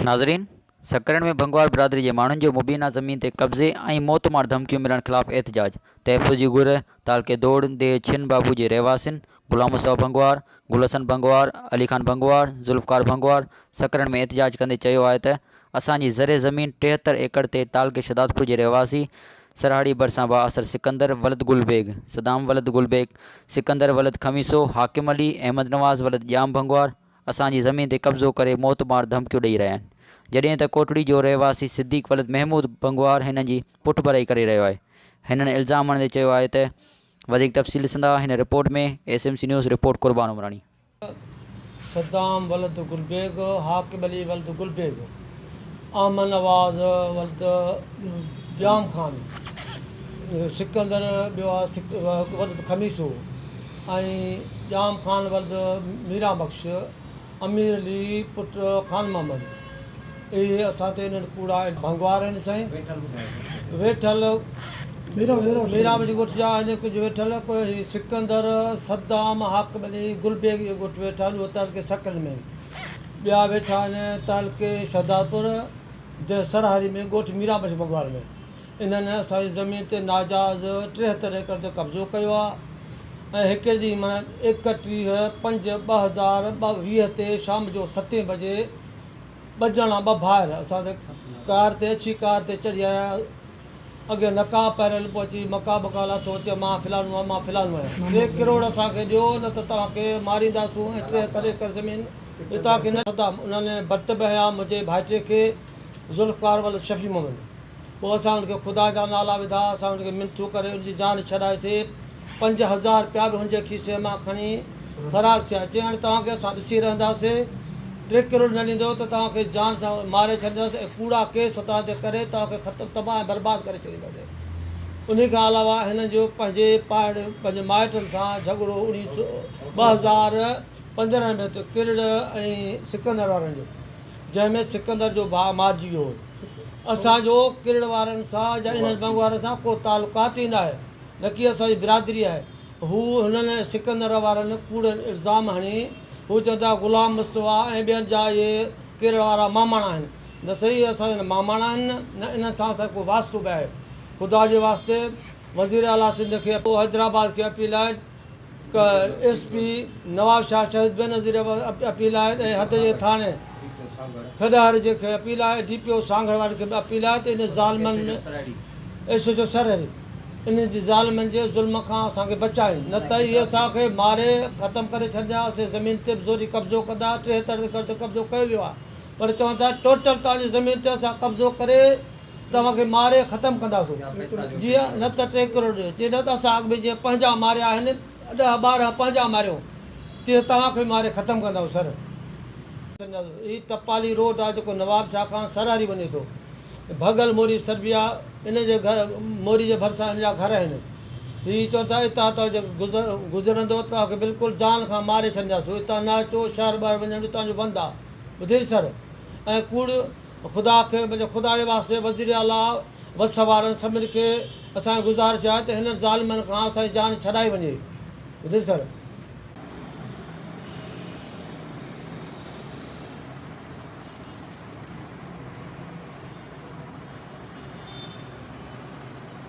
ناظرين! سکرن ۾ ڀنگوار برادري جي ماڻهن جو مبينا زمين تي قبضي ۽ موت مار ڌمڪيون ملڻ خلاف احتجاج، تحفظ جي گهر، تعلقي دوڙ، ديهه ڇن بابو جي رهواسين، غلام مصطفيٰ بنگوار، گل حسن بنگوار، علي خان بنگوار، ذوالفقار بنگوار سکرن ۾ احتجاج ڪندي چيو آهي ته اسان جي زرعي زمين ٽيهتر ايڪڙ تي تعلقي شھدادپور جي رهواسي سرهاڙي ڀرسان بااثر سڪندر ولد گل بيگ، صدام ولد گل بيگ، سڪندر ولد خميسو، حاڪم علي، احمد نواز ولد ڄام بنگوار اسان جي زمين تي قبضو ڪري موت مار ڌمڪيون ڏئي رهيا آهن جڏهن ته ڪوٽڙي جو رهواسي صديق ولد محمود بنگوار هنن جي پٺڀرائي ڪري رهيو آهي هنن الزام هڻندي چيو آهي ته وڌيڪ تفصيل ڏسندا هن report ۾، S M C news, report Qurban Umrani. Saddam ولد گل بيگ، حاڪم علي ولد گل بيگ، احمد نواز ولد ڄام خان، سڪندر ٻيو ولد خميسو ۽ ڄام خان ولد ميران بخش، امير علي پٽ خان محمد، اهي اسان تي انهن ڪوڙا ۽ ڀنگوار آهن سائين ويٺل ميران بيگ ڳوٺ جا آهن ڪجهه ويٺل ڪوهي سڪندر صدام حاڪم علي گل بيگ جي ڳوٺ ويٺا آهن اهي تعلقي سڪل ۾ آهن ٻيا ويٺا آهن تعلقي شهدادپور جنهن سرهاري ۾ ڳوٺ ميران بخش ڀنگوار ۾ انهن اسان جي زمين تي ناجائز ٽيهتر ايڪڙ تي قبضو ڪيو آهي ۽ هڪڙي ڏينهن معنيٰ ايڪٽيهه پنج ٻه هزار ٻه ويهه تي شام جو ستين بجي ٻه ڄڻا ٻه ڀائر اسان تي ڪار تي اچي ڪار تي چڙهي آيا اڳي نقاب پهريل پوء اچي مقا بقا لاٿو چيو مان فلانو آهيان مان فلانو آهيان ٽي ڪروڙ اسان کي ڏيو نه ته توهان کي مارينداسون ۽ ٽيهتر ايڪڙ زمين به توهان کي نه ڏينداسون انهن ڀٽ به هنيا منهنجي ڀائٽي کي ذوالفقار ولد شفيع محمد پوء اسان هن کي خدا جا نالا وڌا، اسان هن کي منٿون ڪري هن جي جان ڇڏائيسين. پنج هزار روپيا به هن جي کيسي مان کڻي فرار ٿيا. چيائين، هاڻي توهان کي اسان ڏسي رهنداسين. ٽي ڪروڙ نه ڏيندؤ ته توهان کي جان سان ماري ڇڏينداسين ۽ ڪوڙا ڪيس توهان تي ڪري توهان کي ختم تباهه ۽ برباد ڪري ڇڏينداسين. انهي کان علاوه هنن جو پنهنجي پائڙ پنهنجي مائٽن سان جهڳڙو ٻه هزار پندرهن ۾ هتي ڪرڙ ۽ سڪندر وارن جو. جنهن ۾ سڪندر جو ڀاء مارجي ويو هو. اسان جو ڪرڙ وارن سان يا انهن بنگ وارن سان ڪو تعلقات ئي ناهي، نڪي اسان جي برادري آهي. هو هنن ۽ سڪندر وارن ڪوڙن الزام هڻي هو چون ٿا غلام مصطفيٰ ۽ ٻين جا اهي ڪرڙ وارا ماماڻا آهن. نه سهي اسان جا نه ماماڻا آهن نه انهن سان اسان جو ڪو واسطو به آهي. خدا جي واسطي وزير اعليٰ سنڌ کي ۽ پوء حيدرآباد کي اپيل آهي، ڪ ايس پي نوابشاهه شهيد بينظير اپيل آهي ۽ حد جي ٿاڻي کڏهر جي کي اپيل آهي ڊي پي او سانگهڙ واري کي به اپيل آهي ته انهن ظالمن ايس ايچ او سرهڙي انهن جي ظالمن جي ظلم کان اسان کي بچائين نه ته اهي اسان کي ماري ختم ڪري ڇڏيندا اسين زمين تي به زوري قبضو ڪندا ٽيهتر ايڪڙ تي قبضو ڪيو ويو آهي پر چون ٿا ٽوٽل توهان جي زمين تي اسان قبضو ڪري توهان کي ماري ختم ڪنداسون جي نه ته ٽي ڪروڙ ڏيو جي نه ته اسان اڳ ۾ جيئن پنهنجا ماريا آهن ڏهه ٻارهن پنهنجا ماريو تيئن توهان کي ماري ختم ڪنداسون سر هي ٽپالي روڊ آهي جيڪو نواب شاهه کان سر هاري وڃي ٿو ڀڳل موري سربيا ان جي گهر موري جي ڀرسان ان جا گهر آهن هي چون ٿا اتان توهان جي گذر گذرندو توهان کي بلڪل جان کان ماري ڇڏينداسون اتان نه اچو شهر ٻاهر وڃڻ جو توهان جو بند آهي ٻڌئي سر ۽ ڪوڙ خدا کي منهنجي خدا جي واسطي وزير اعليٰ وس وارن سڀني کي اسان جي گذارش آهي ته هنن ظالمن کان اسان جي جان ڇڏائي وڃي.